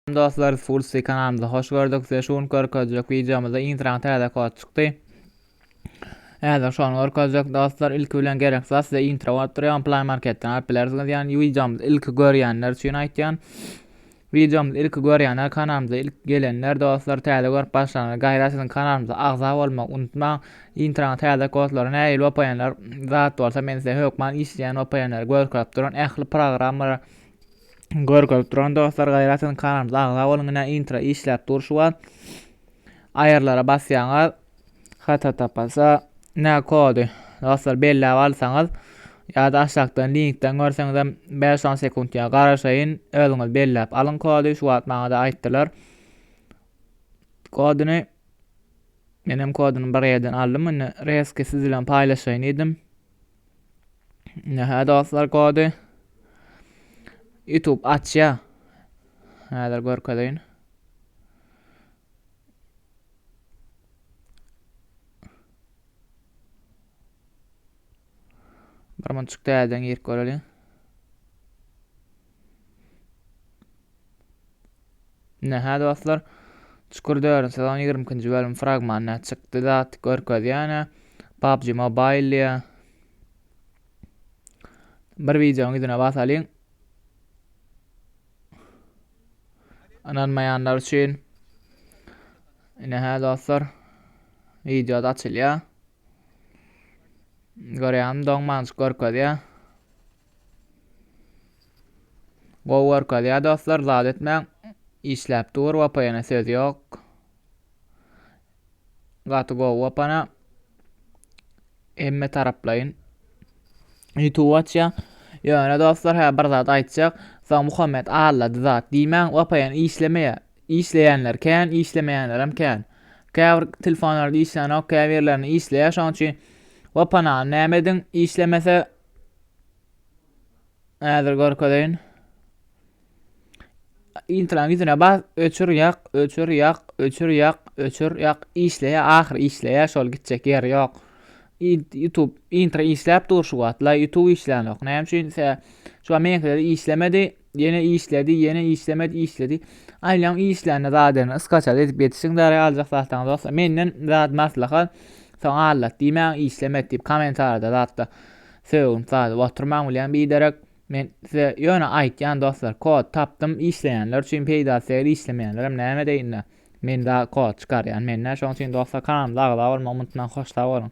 Salam dostlar biz full sty kanalymyza hoş gördük size şu gün görkezjek wideomyzda intraň täze kod çykdy Häzir şony görkezjek dostlar ilki bilen gerek zat size intro bolup durýan play marketden alyp bilersiňiz ýani wideomyzy ilki görýänler üçin aýtýan Wideomyzy ilki görýänler kanalymyza ilk gelenler dostlar täze görüp başlanlar gaýra siziň kanalymyza agza bolmak unutmaň. Intraň täze kodlary nähili opaýanlar zat bolsa men size hökman işleýän opaýanlary görkezip duran ähli programmalar Görkezip duran dostlar gaýratyn kanalymyza agza boluň ine intro işläp dur şu wagt. Aýyrlara basýaňyz. Hata tapasa ne kody dostlar belläp alsaňyz ýa-da aşakdan linkden görseňiz hem 5-10 sekunt ýa garaşaýyn özüňiz belläp alyň kody şu wagt maňa-da aýtdylar. Kodyny menem kodyny bir ýerden aldym indi reski siz bilen paýlaşaýyn diýdim. Nähä dostlar kody? YouTube açýa. Häzir görkezeýin. Bir munçuk täzeden girip göreliň. Ine hä dostlar Çukur dördünji sezon ýigrimi ikinji bölüm fragmany çykdy zat görkezýän-ä PUBG Mobile diýä. Bir wideonyň ýüzüne basalyň. Ananmayanlar üçin yine hä dostlar videoda açylýar. Görýäňmi doň maňjyk görkezýär. Gowy görkezýär dostlar zat etmäň. Işläp dur Wapayana söz ýok. Gaty gowy Wapana. Hemme taraplaýyn. YouTube açýa. Ýöne dostlar hä bir zat aýtjak. Soň Muhammet allady zat diýmäň Wapayan işlemeýär. Işleýänler kän, işlemeýänlerem kän. Käbir telefonlarda işlänok, käbirlerinde işleýär. Şonuň üçin Wapanany näme ediň? Işlemese Häzir görkezeýin. Intraň ýüzüne bas, öçür ýak, öçür ýak, öçür ýak, öçür ýak, işleýä, ahyr işleýä, şol gitjek ýeri ýok. YouTube intro işläp dur şu wagtla, YouTube işlän ýok. Näme üçin? Şu meňkide işlemedi. Ýene işledi, ýene işlemedi, işledi. Aýlaň işlände zadyny ysgaçaly edip ýetişiň dara aljak zatlaryňyz bolsa. Menden zat maslahat, soň allat diýmäň, işlemet diýip kommentarda zatda sögünip zady oturmaň bilýän biderek. Men size ýöne aýtýan dostlar, kod tapdym, işleýänler üçin peýdasy degil, işlemeýänlerem näme edeýinler. Men za kod çykarýan, men nä şoň üçin dostlar kanalymyza agza bolmagy unutmaň, hoşsag boluň.